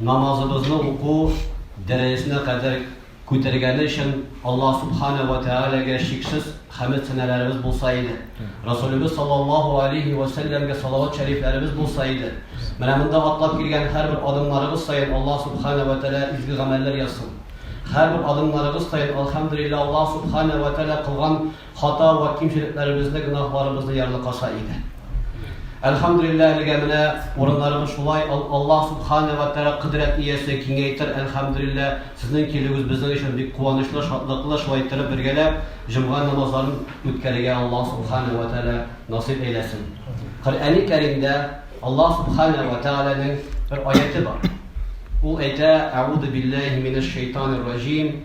Намазыбызны уку дәрәҗәсенә кадәр күтәргәне өчен Аллаһ Сүбхәнәһү вә Тәгаләгә чиксез хәмед-сәналарыбыз булса иде, Рәсүлебез саллаллаһу галәйһи вә сәлләмгә салават шәрифләребез булса иде. Менә монда атлап килгән һәрбер адымнарыгыз саен Аллаһ Сүбхәнәһү вә Тәгалә изге гамәлләр язсын. Һәрбер адымнарыгыз саен, әлхәмдүлилләһ, Аллаһ Сүбхәнәһү вә Тәгалә кылган Хата вә кимчелекләребезне, гөнаһларыбызны ярлыкаша иде. Әлхәмдүлилләһ, әлегә менә урыннарыбыз шулай, ал, Аллаһ Субханә вә Тәгалә кодрәт иясе, киңәйтер, әлхәмдүлилләһ, сезнең килүегез безнең өчен бик куанычлы, шатлыклы, шулай иттереп бергәләп җомга намазларын үткәрергә Аллаһ Субханә вә Тәгалә насыйп әйләсен. Коръәни Кәримдә Аллаһ Субханә вә Тәгаләнең бер аяте бар. Ул әйтә, Әгуду билләһи минәш шәйтанир раҗим,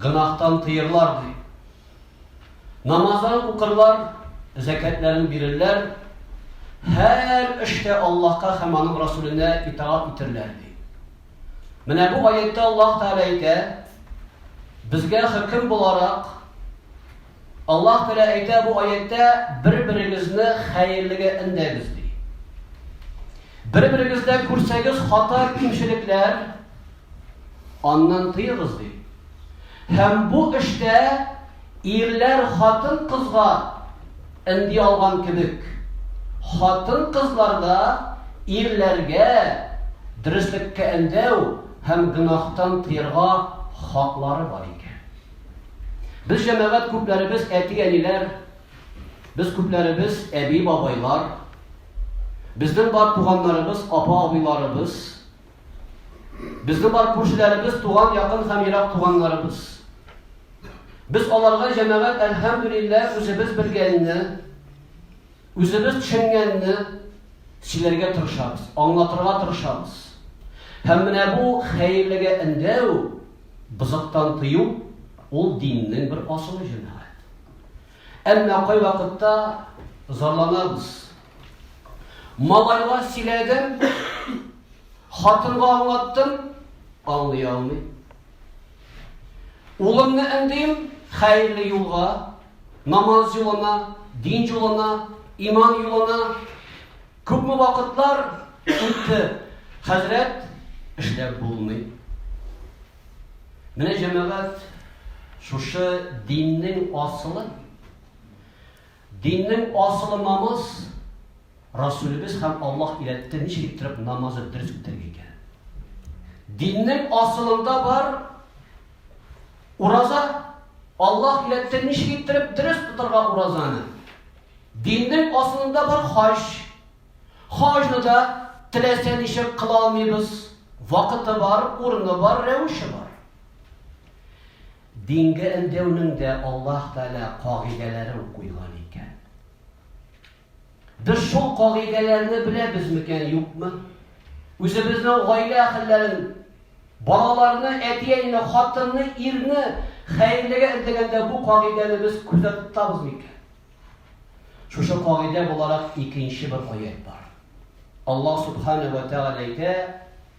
Гөнаһтан тыерлар, ди. Намазларын укырлар, зәкәтләрен бирерләр, һәр эштә Аллаһка һәм аның Расүленә итагать итерләр, ди. Менә бу аятта Аллаһ Тәгалә әйтә, безгә хөкем буларак Аллаһ Тәгалә әйтә бу аятьтә, бер-берегезне хәерлегә өндәгез, ди. Бер-берегездә күрсәгез хата кимчелекләр, аннан тыегыз, ди. Һәм бу эштә ирләр хатын кызга энди алган кебек, хатын кызлар да ирләргә дөреслеккә эндәү һәм гөнаһтан тыерга хаклары бар икән. Без җәмәгать күпләребез әти-әниләр, без күпләребез әби-бабайлар, безнең бар туганнарыбыз, апа-абыйларыбыз, безнең бар күршеләребез, туган якын һәм ерак туганнарыбыз. Без аларга җәмәгать әлхәмдүлилләһ үзебез белгәнне, Үзебез төшенгәнне сөйләргә тырышабыз, аңлатырга тырышабыз. Һәм менә бу хәерлегә өндәү, бозыктан тыю, ул диннең бер асылы җәмәгать. Әмма кайвакытта зарланабыз. Малайга сөйләдем, хатынга аңлаттым, аңлый алмый. Улымны өндим хәерле юлга, намаз юлына, дин юлына, иман юлына. Күпме вакытлар үтте, хәзрәт, эшләп булмый. Менә җәмәгать шушы диннең асылы. Диннең асылы намаз, Расүлебез һәм Аллаһ өйрәтте ничек иттереп намазы дөрес үтәргә икәнен. Диннең асылында бар ураза, Аллаһ өйрәтте ничек иттереп дөрес тотарга уразаны. Диннең асылында бар хаҗ. Хаҗны да теләсә ничек кыла алмыйбыз. Вакыты бар, урыны бар, рәвеше бар. Дингә өндәүнең дә Аллаһ Тәгалә кагыйдәләрен куйган икән. Без шул кагыйдәләрне беләбез микән, юкмы? Үзебезнең гаилә әһелләрен, балаларны, әти-әнине, хатынны, ирне хәерлегә эндәгәндә бу кагыйдәне без күздә тотабыз микән? Шушы кагыйдә буларак икенче бер аят бар. Аллаһ Субхана ва Тәгалә әйтә,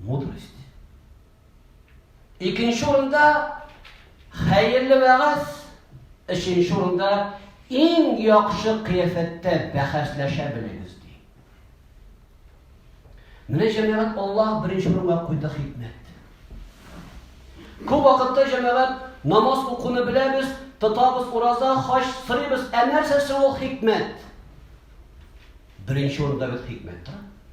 Мудрость. Икенче урында хәерле вәгазь, өченче урында иң яхшы кыяфәттә бәхәсләшә белегез ди. Менә җәмәгать Аллаһ беренче урынга куйды хикмәт. Күп вакытта җәмәгать намаз укуны беләбез, тотабыз ураза, хаҗ сырыйбыз, ә нәрсәсе ул хикмәт? Беренче урында без хикмәт тора.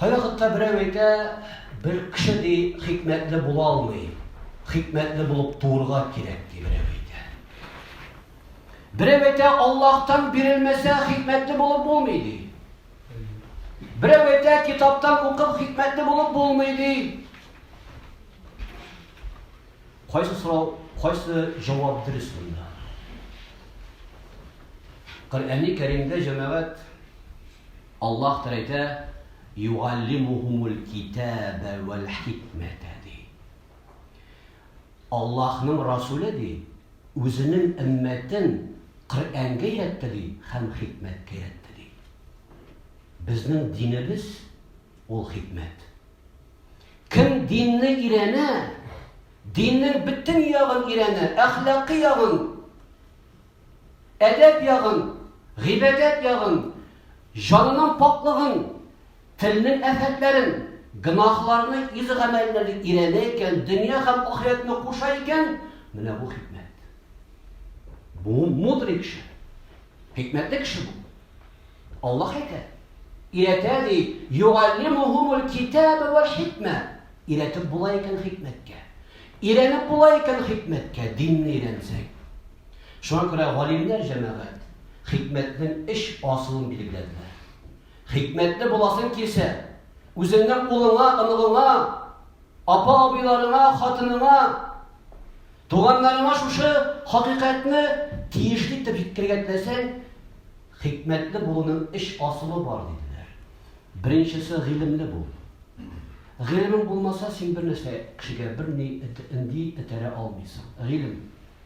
Кайвакытта берәү әйтә, Бер кеше, ди, хикмәтле була алмый. Хикмәтле булып туырга кирәк, ди берәү әйтә. Берәү әйтә, Аллаһтан бирелмәсә, хикмәтле булып булмый, ди. Берәү әйтә, китаптан укып хикмәтле булып булмый, ди. Кайсы сорау, кайсы җавап дөрес монда? Коръәнне Кәримдә җәмәгать Аллаһ Тәгалә әйтә, Югаллимухумуль-китәбә вәл-хикмәтә, ди. Аллаһның Расүле, ди, Үзенең өммәтен Коръәнгә өйрәтте, ди, һәм хикмәткә өйрәтте, ди. Безнең динебез, ул хикмәт. Кем динне өйрәнә, диннең бөтен ягын өйрәнә, әхлакый ягын, Әдәп ягын, гыйбадәт ягын, җанының пакьлыгын, телнең афәтләрен, гөнаһларны үз гамәлләрен өйрәнә икән, дөнья һәм ахирәтне куша икән, менә бу хикмәт. Бу мудрый кеше. Хикмәтле кеше бу. Аллаһ әйтә, өйрәтә ди, югаллимухумул китаба вал хикмә. Өйрәтеп була икән хикмәткә. Өйрәнеп була икән хикмәткә, динне өйрәнсәк. Шуңа күрә галимнәр җәмәгать хикмәтнең өч асылын билгеләделәр. Хикмәтле буласың килсә, үзеңнең кулыңа, оныгыңа, апа-абыйларыңа, хатыныңа, туганнарыңа шушы хакыйкатьне тиешле итеп җиткергән теләсәң, хикмәтле булуның өч асылы бар диделәр. Беренчесе гыйлемле бул. Гыйлем булмаса, син бер нәрсә кешегә бер ни энди этәрә алмыйсың. Гыйлем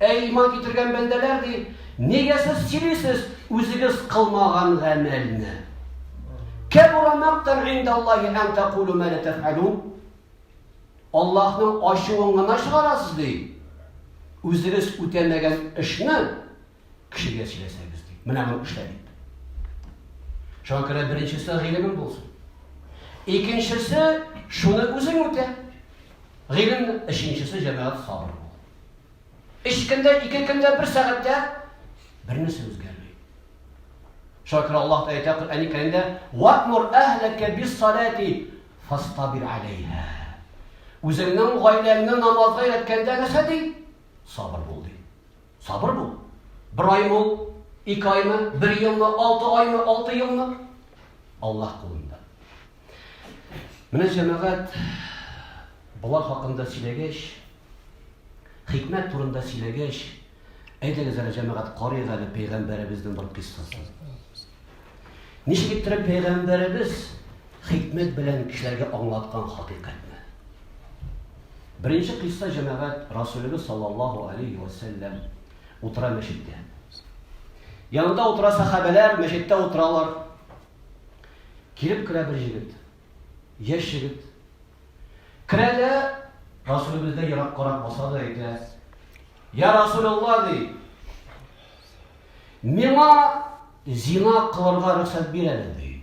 Әй, иман китергән бәндәләр, ди, нигә сез сөйлисез үзегез кылмаган гамәлне? Кәбура мактан индаллахи ан тәкулу ма тәфәлун. Аллаһның ачуын гына чыгарасыз, ди. Үзегез үтәмәгән эшне Кешегә сөйләсәгез дип. Менә моны эшлә дип. Шуңа күрә беренчесе гыйлемең булсын. Икенчесе шуны үзең үтә. Гыйлем, өченчесе җәмәгать сабыр бул. Өч көндә, ике көндә, бер сәгатьтә бернәрсә үзгәрми. Шуңа күрә Аллаһ та әйтә Коръән Кәримдә: "Ватмур әһләкә бис-салати фастабир алейһа". Үзеңнең гаиләңне намазга өйрәткәндә нәрсә ди? Сабыр бул ди. Сабыр бул. Бер аймы ул, ике аймы, бер елмы, алты аймы, алты елмы? Аллаһ кулында. Менә җәмәгать болар хакында сөйләгәч, хикмәт турында сөйләгәч, әйдәгез әле җәмәгать карыйк әле пәйгамбәребезнең бер кыйссасын. Ничек иттереп пәйгамбәребез хикмәт белән кешеләргә аңлаткан хакыйкатьне? Беренче кыйсса җәмәгать Расулыбыз саллаллаһу алейхи ва саллям утыра мәчеттә. Янында утыра сахабәләр, мәчеттә утыралар. Килеп керә бер җегет. Яшь җегет. Керә дә Расулыбыздан ерак карап баса да әйтә: "Я Расулулла" ди. Миңа зина кылырга рөхсәт бир әле, ди.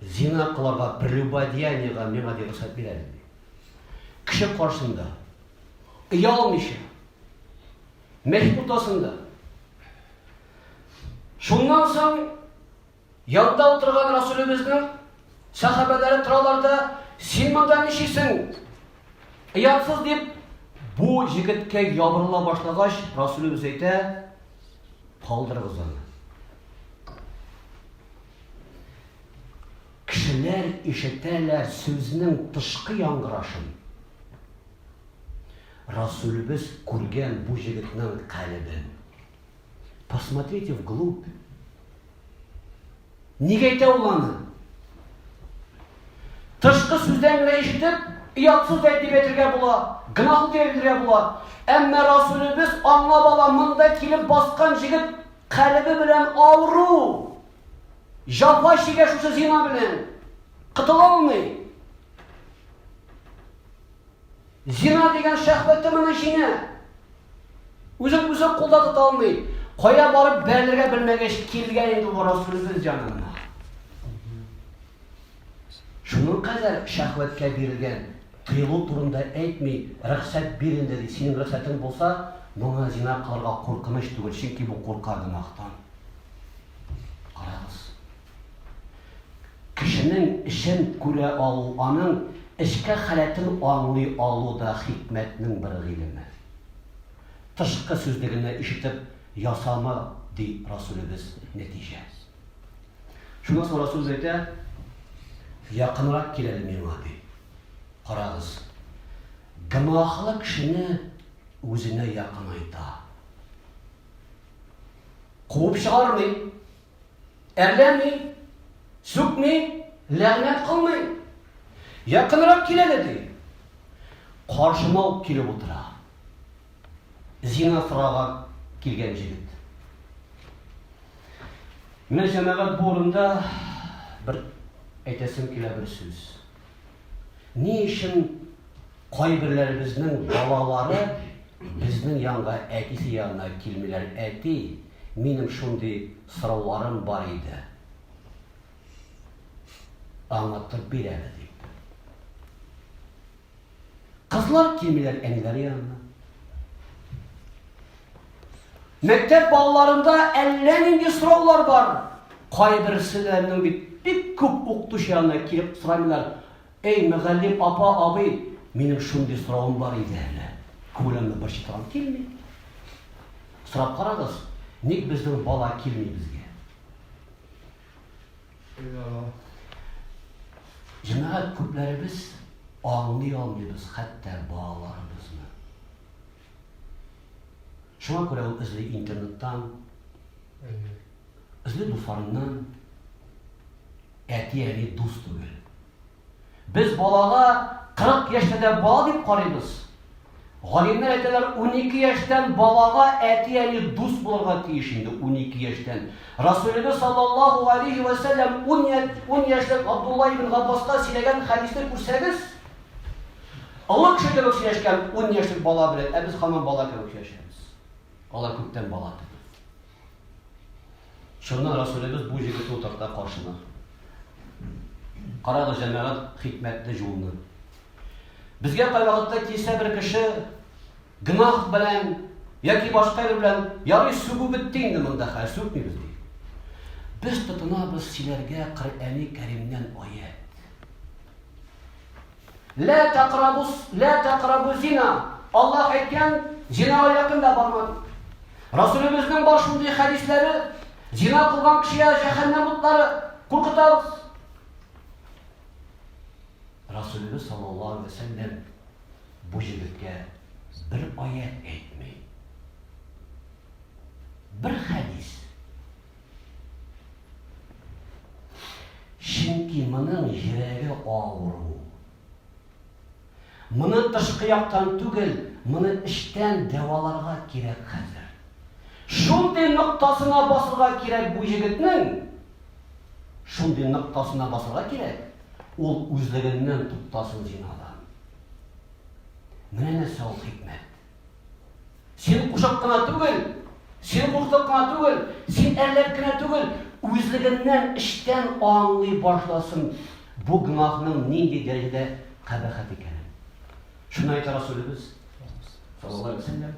Зина кылырга, прелюбодеяниега миңа ди рөхсәт бир әле, ди. Кеше каршында, оялмыйча, мәчет уртасында. Шуннан соң Янда утырган Расулебезнең сәхабәләре торалар да, син монда ничисең? Оятсыз дип, бу җегеткә ябырыла башлагач, Расулебез әйтә, калдырыгыз аны. Кешеләр ишетәләр сүзнең тышкы яңгырашын. Расулебез күргән бу җегетнең калебен. Посмотрите вглубь. Нигә әйтә ул аны? Тышкы сүздән генә ишетеп, ият сүз әйтеп әйтергә була, гөнаһ итеп әйтергә була. Әмма Расулебез аңа бала монда килеп баскан җегет калебе белән авыру. Җафа чигә шушы зина белән. Кытыла алмый. Зина дигән шәхвәте моны җиңә. Үзен үзе кулда тота алмый. Кая барып бәрелергә белмәгәч килгән инде бу Расулыбыз янына. Шуның кадәр шәхвәткә бирелгән, тыелу турында әйтми, рөхсәт бир инде ди. Синең рөхсәтең булса, моңа зина кылырга куркыныч түгел, чөнки бу курка гөнаһтан. Карагыз, Кешенең эшен күрә алу, аның эчке халәтен аңлый алу да хикмәтнең бер гыйлеме. Тышкы сүзлегенә ишетеп ясама, ди Расүлебез, нәтиҗә. Шуннан соң Расүлебез әйтә, Якынрак кил әле миңа, ди. Карагыз, гөнаһлы кешене үзенә якынайта. Куып чыгармый. Әрләми, сүкми, ләгънәт кылмый. Якынрак кил әле, ди. Каршыма ук килеп утыра. Зина сорарга килгән җегет. Менә җәмәгать бу урында бер әйтәсем килә бер сүз. Ни өчен Кайберләребезнең балалары безнең янга әтисе янына килмиләр, Әти, минем шундый сорауларым бар иде. Аңлатып бир әле дип. Кызлар килмиләр әниләре янына. Мәктәп балаларында әллә нинди сораулар бар. Кайберселәрнең бит бик күп укытучы янына килеп сорамыйлар. Әй, мөгаллим апа, абый, минем шундый соравым бар иде әле. Күңелемне бер читаган килми. Сорап карагыз, ник безнең бала килми безгә? Җәмәгать күпләребез аңлый алмыйбыз хәтта балаларыбызны. Шуңа күрә ул эзли интернеттан. Эзли дусларыннан әти-әни дус түгел. Без балага 40 яшьтә дә бала дип карыйбыз. Галимнәр әйтәләр, 12 яшьтән балага әти-әни дус булырга тиеш инде 12 яшьтән. Расулебез саллаллаху алейхи ва саллям 10 яшьлек Абдулла ибн Габбаска сөйләгән хадисны күрсәгез, олы кеше кебек сөйләшкән 10 яшьлек бала белән, ә без хаман бала кебек сөйләшәбез. Алар күптән бала түгел. Чыннан Расулебез бу җегетне утырта каршына. Карагыз, җәмәгать, хикмәтле җулны. Безгә кайвакытта килсә бер кеше гнах белән яки башка бер белән ярый сүгү бетте инде монда хәл сүкмибез ди. Без тотынабыз сөйләргә Коръәни Кәримнән аят. Лә тәкърабус, лә тәкърабу зина. Аллаһ әйткән, зинага якын да барма дип. Расулебезнең бар шундый хәдисләре, зина кылган кешегә җәһәннәм утлары куркытабыз. Расулебез саллаллаһу алейһи ва сәлләм бу җегеткә бер аят әйтми. Бер хәдис Чөнки моның йөрәге авыру. Моны тышкы яктан түгел, моны эчтән дәваларга кирәк хәзер. Шундый ноктасына басырга кирәк бу егетнең. Шундый ноктасына басырга кирәк. Ул үзлегеннән туктасын зинадан. Менә нәрсә ул хикмәт. Син кушак кына түгел, син куркак кына түгел, син әрләп кенә түгел, үзлегеннән эчтән аңлый башласын бу гөнаһның нинди дәрәҗәдә кабахәт икәнен. Шуны әйтә Расулебез саллаллаһу алейһи ва сәлләм,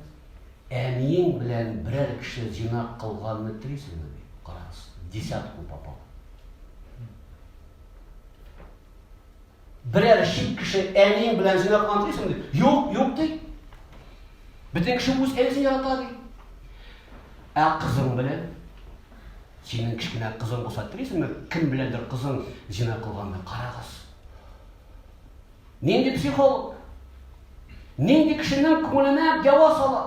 әниең белән берәр кеше зина кылганны телисеңме? Карагыз, десятку попал. Берәр чит кеше әниең белән зина кылган дисең ди. Юк, юк ди. Бөтен кеше үз әнисен ярата ди. Ә кызың белән синең кечкенә кызың булса телисеңме, кем беләндер кызың зина кылганны карагыз. Нинди психолог? Нинди кешенең күңеленә ява сала?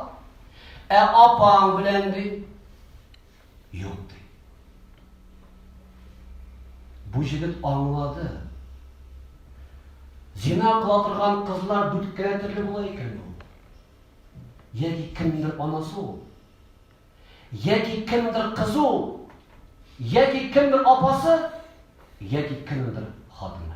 Ә апаң белән ди. Юк, ди. Бу җегет аңлады. Зина кыла торган кызлар дүрткә төрле була икән ул. Яки кемдер анасы ул. Яки кемдер кызы ул. Яки кемдер апасы, яки кемдер хатыны.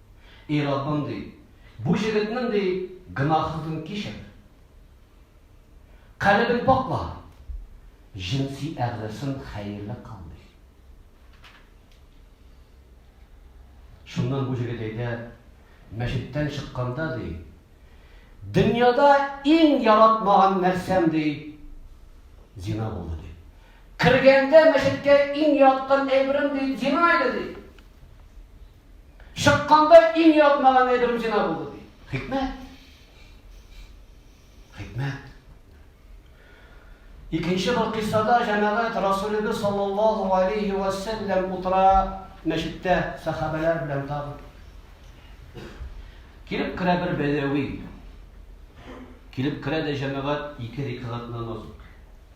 И Раббым, ди, бу җегетнең, ди, гөнаһын кичер. Калебен пакла. Җенси әгъзасын хәерле кыл, ди. Шуннан бу җегет әйтә, мәчеттән чыкканда, ди, дөньяда иң яратмаган нәрсәм, ди, зина булды, ди. Кергәндә мәчеткә иң яткан әйберем, ди, зина иде, ди. Чыкканда иң ятмаган әйберем зина булды ди. Хикмәт. Хикмәт. Икенче бер кыссада җәмәгать Расулебез саллаллаһу алейхи ва саллям утыра мәчеттә сахабәләр белән тагы. Килеп керә бер бәдәви. Килеп керә дә җәмәгать ике рикгат намаз укый.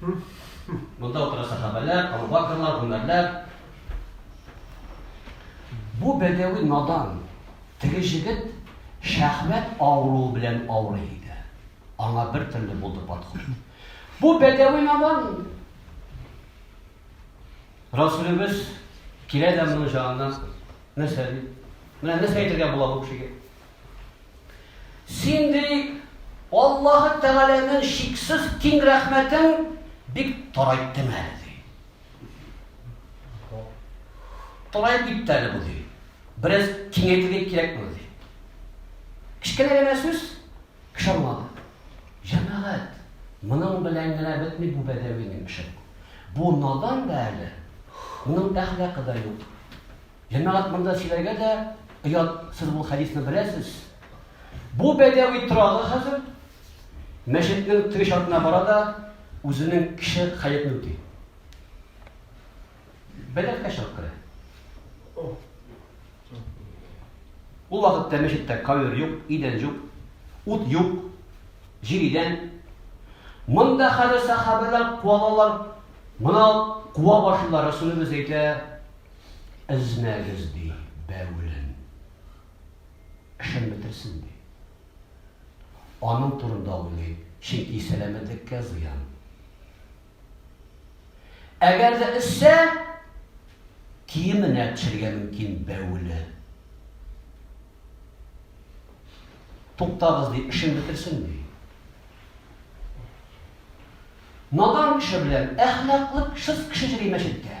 Монда утыра сахабәләр, Абубакрлар, Гүмәрләр. Бу бәдәви надан теге җегет шәхмәт авыруы белән авырый иде. Аңа бер төрле булды подход. Бу бәдәви надан Расулебез килә дә моның җанына нәрсә ди? Менә нәрсә әйтергә була бу кешегә? Син, ди, Аллаһы Тәгаләнең чиксез киң рәхмәтен бик тарайттың әле, ди. Тараеп китте әле бу, ди. Бераз киңәйтергә кирәк бу, ди. Кечкенә генә сүз кеше аңлады. Җәмәгать, моның белән генә бетми бу бәдәвинең эше. Бу надан да әле, моның әхлакы да юк. Җәмәгать монда сөйләргә дә оят, сез бу хәдисне беләсез. Бу бәдәви торагы хәзер мәчетнең теге чатына бара да үзенең кеше хәятын үти. Бәләкә чыгып керә. Ул вакытта мәчеттә кавер юк, идән юк, ут юк, җир идән. Монда хәзер сахабәләр куалалар, мына куа башлылар, Расулыбыз әйтә, Эзнәгез, ди, бәвелен. Эшен бетерсен, ди. Аның турында уйлый, чөнки сәламәтлеккә зыян. Әгәр дә эзсә, киеменә төшергә мөмкин бәвеле. Туктагыз, ди, эшен бетерсен, ди. Надан кеше белән әхлаклы шыс кеше йөри мәчеткә.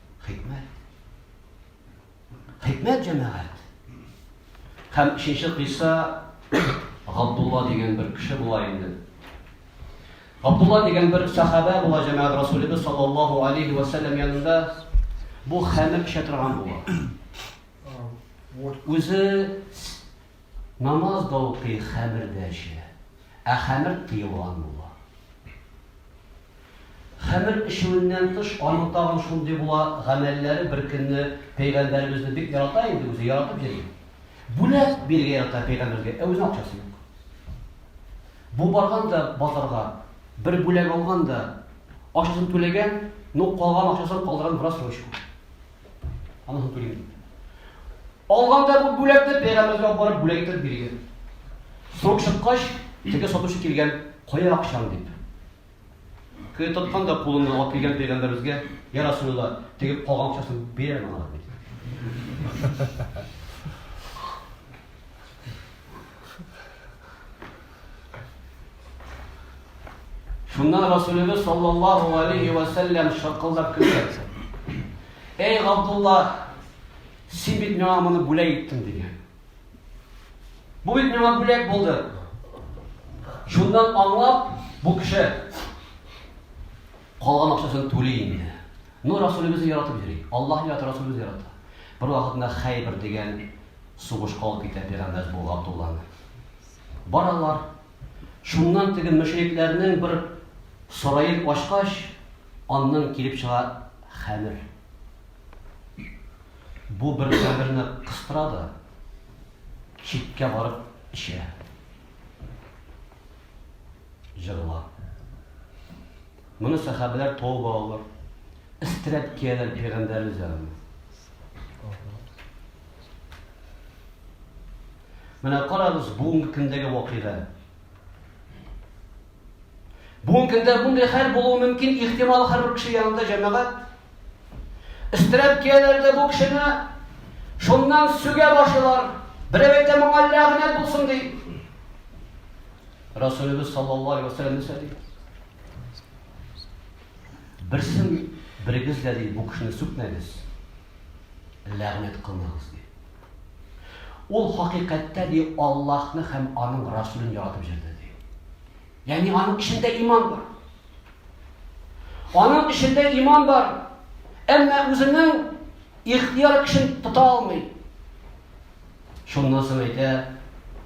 Хикмәт. Хикмәт җәмәгать. Һәм өченче кыйса Габдулла дигән бер кеше була инде. Габдулла дигән бер сахабә була җәмәгать Расулебез саллаллаху алейхи ва саллям янында бу хәмер эчә торган була. Үзе намаз да укый, хәмер дә эчә. Ә хәмер тыелган була. Хәмер эчүеннән тыш, аның тагын шундый була, гамәлләре беркөнне пәйгамбәребезне бик ярата инде үзе, яратып йөри. Бүләк бирергә ярата пәйгамбәргә, ә үзенең акчасы юк. Бу барган да базарга, бер бүләк алган да, акчасын түләгән, ну калган акчасын калдырган в рассрочку. Анысын түлим. Алган да бу бүләкне пәйгамбәргә барып бүләк итеп биргән. Срок чыккач, теге сатучы килгән, кая акчаң дип. Кое тоткан да кулыңны алып килгән пәйгамбәребезгә, я Расулулла, тегеп калган акчасын бир әле моңа. Шуннан Расулебез саллаллаху алейхи ва саллям шакылдап көлде. Эй Габдулла, син бит миңа моны бүләк иттең дигән. Бу бит миңа бүләк булды. Шуннан аңлап, бу кеше калган акчасын түли инде. Ну, Расулебезне яратып йөри. Аллаһ ярата, Расулебез ярата. Бер вакытында Хәйбер дигән сугышка алып китә пәйгамбәр бу Габдулланы. Баралар. Шуннан теге мөшрикләрнең бер сараен ачкач, аннан килеп чыга хәмер. Бу бер каберне кыстыра да читкә барып эчә. Җырла. Моны сәхәбәләр тауып алалар. Истрәп кияләр пәйгамбәребез янына. Менә карагыз бүгенге көндәге вакыйга. Бүгенге көндә мондый хәл булуы мөмкин, ихтимал һәрбер кеше янында җәмәгать. Өстерәп кияләрдә бу кешене шуннан сүгә башлыйлар. Берәү әйтә моңа ләгънәт булсын ди. Расулыбыз саллаллаһу алейһи ва сәлләм нәрсә ди? Берсен берегез дә, ди, бу кешене сүкмәгез, ләгънәт кылмагыз, ди. Ул хакыйкатьтә, ди, Аллаһны һәм аның Расулен яратып җирде, ди. Ягъни аның эчендә иман бар. Аның эчендә иман бар. Әмма үзенең ихтияр көчен тота алмый. Шуннан соң әйтә,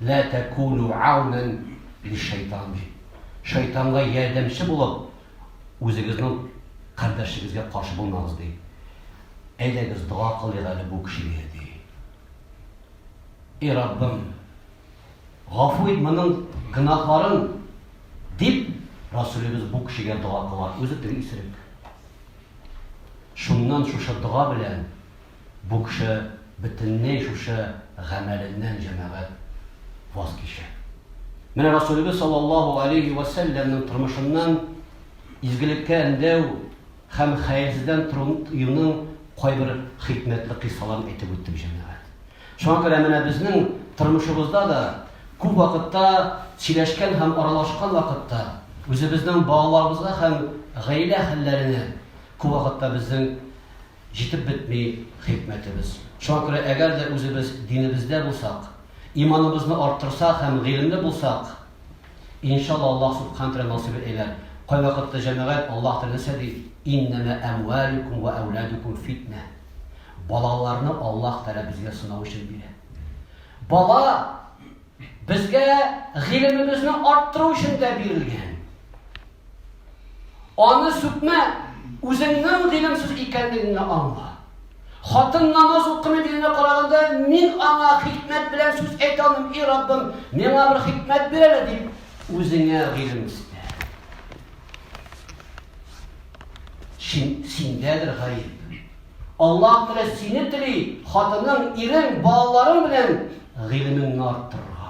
"Ла такуну аунан лишайтан" ди. Шайтанга ярдәмче булып, Үзегезнең кардәшегезгә каршы булмагыз, ди. Әйдәгез, дога кылыйк әле бу кешегә, ди. И Раббым, гафу ит моның гөнаһларын, дип, Расулебез бу кешегә дога кыла, үзе теге исерек. Шуннан шушы дога белән Бу кеше бөтенләй шушы гамәленнән, җәмәгать, ваз кичә. Менә Расулебез саллаллаһу алейһи вә сәлләмнең тормышыннан изгелеккә өндәү һәм хәерсездән тыюның кайбер хикмәтле кыйссаларын әйтеп үттек, җәмәгать. Шуңа күрә менә безнең тормышыбызда да күп вакытта сөйләшкән һәм аралашкан вакытта үзебезнең балаларыбызга һәм гаилә хәлләренә күп вакытта безнең Җитеп бетми хикмәтебез. Шуңа күрә әгәр дә үзебез динебездә булсак, иманыбызны арттырсак һәм гыйлемле булсак, иншалла Аллаһ Субхан тәгалә насыйп әйләр. Кайвакытта җәмәгать Аллаһ тәгалә нәрсә ди? Иннәмә әмвәлүкүм вә әүләдүкүм фитнә. Балаларны Аллаһ тәгалә безгә сынау өчен бирә. Бала безгә гыйлемебезне арттыру өчен дә бирелгән. Аны сүкмә, үзеңнең гыйлемсез икәнлегеңне аңла. Хатын намаз укымый дигәнгә караганда, мин аңа хикмәт белән сүз әйтә алмыйм, и Раббым, миңа бер хикмәт бир әле дип, үзеңә гыйлем исте. Син, синдәдер гаеп. Аллаһ Тәгалә сине тели, хатының, ирең, балаларың белән гыйлемеңне арттырырга.